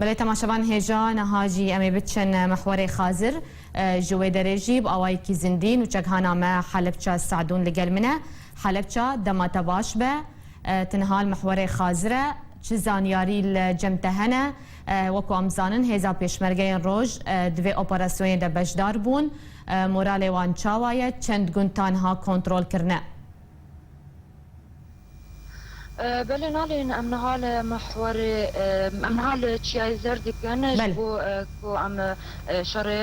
Belê temaşevan hêja niha jî em ê biçin mihwarê Xazir. Ji wê derê jî bi awayekî zindî nûçeghana me Helebça Se'dûn li gel min e. Helebça dema te baş be. Tu niha li mihwarê Xazir e. Çi zanyarî li cem te hene? Wek ku em dizanin hêza pêşmergeyên roj di vê operasyonê de beşdar bûn. Moralê wan çawa ye? Çend gund ta niha kontrol kirine? Belê nalên em niha li mihwarê em niha li Çiyayê Zer dikin ji bo ku em şerê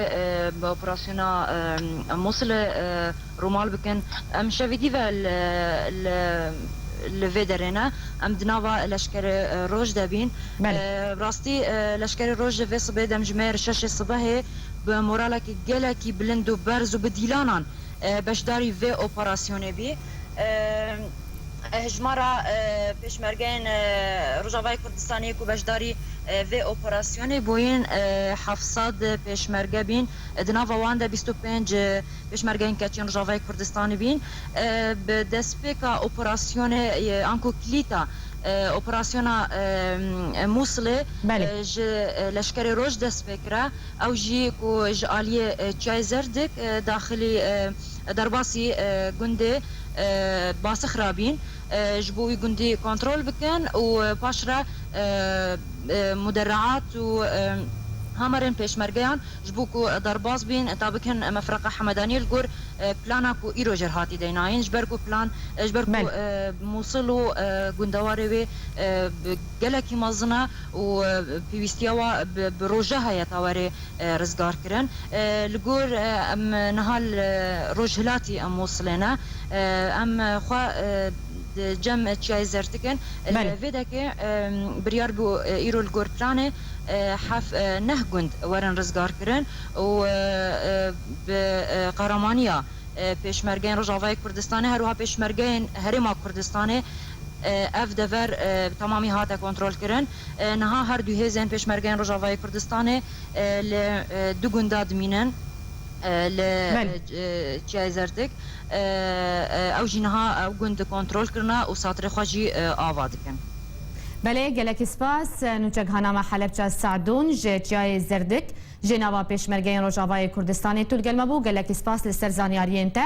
bi operasyona Mosilê rûmal bikin. Em şevî dî ve li li li vê derê ne. Em di nava leşkerê roj de bîn. Bi rastî leşkerê roj li vê sibê demjimêr şeşê sibehê bi moralekî gelekî bilind û berz û bi dîlanan beşdarî vê operasyonê bî. Hejmara pêşmergeyên Rojavayê Kurdistanê ku beşdarî vê operasyonê bûyîn heft sed pêşmerge bîn, di nava wan de bîst û pênc pêşmergeyên keçiyên Rojavayê Kurdistanê bîn. Bi destpêka operasyonê an ku kilîta operasyona Mûsilê ji Leşkerê Roj dest pê kira, ew jî ku ji aliyê Çiyayê Zerdik daxilî Derbasî gundê Basix ra bîn ji bo wî gundî kontrol bikin û paş re muderriat û hamarên pêşmergeyan ji bo ku derbas bîn ta bikin mefreqa Hemedaniyê li gor plana ku îro jê re hatî deynayîn ji ber ku plan ji ber ku Mûsil û gundewarê wê gelekî mezin e û pêwîstiya wan bi roje heye ta were rizgar kirin. Li gor em niha li rojhilatî em Mûsilê ne. Em xwe di cem Çiyayê Zertik in. Li vê dekê biryar bû îro li gor planê heft neh gund werin rizgar kirin û bi qehramaniya Pêşmergeyên Rojavayê Kurdistanê her wiha Pêşmergeyên Herêma Kurdistanê ev dever bi temamî hate kontrolkirin. Niha her du hêzên Pêşmergeyên Rojavayê Kurdistanê li du gunda dimînin li Çiyayê Zertik. Ew jî niha ew gund kontrol kirine û satirê xwe jî ava dikin. Belê, gelekî spas. Nûçeghanama Helepça Sadûn ji Çiyayê Zerdik jê nava Pêşmergeyên Rojavayê Kurdistanê tûl gelme bû. Gelekî spas li ser zanyariyên te.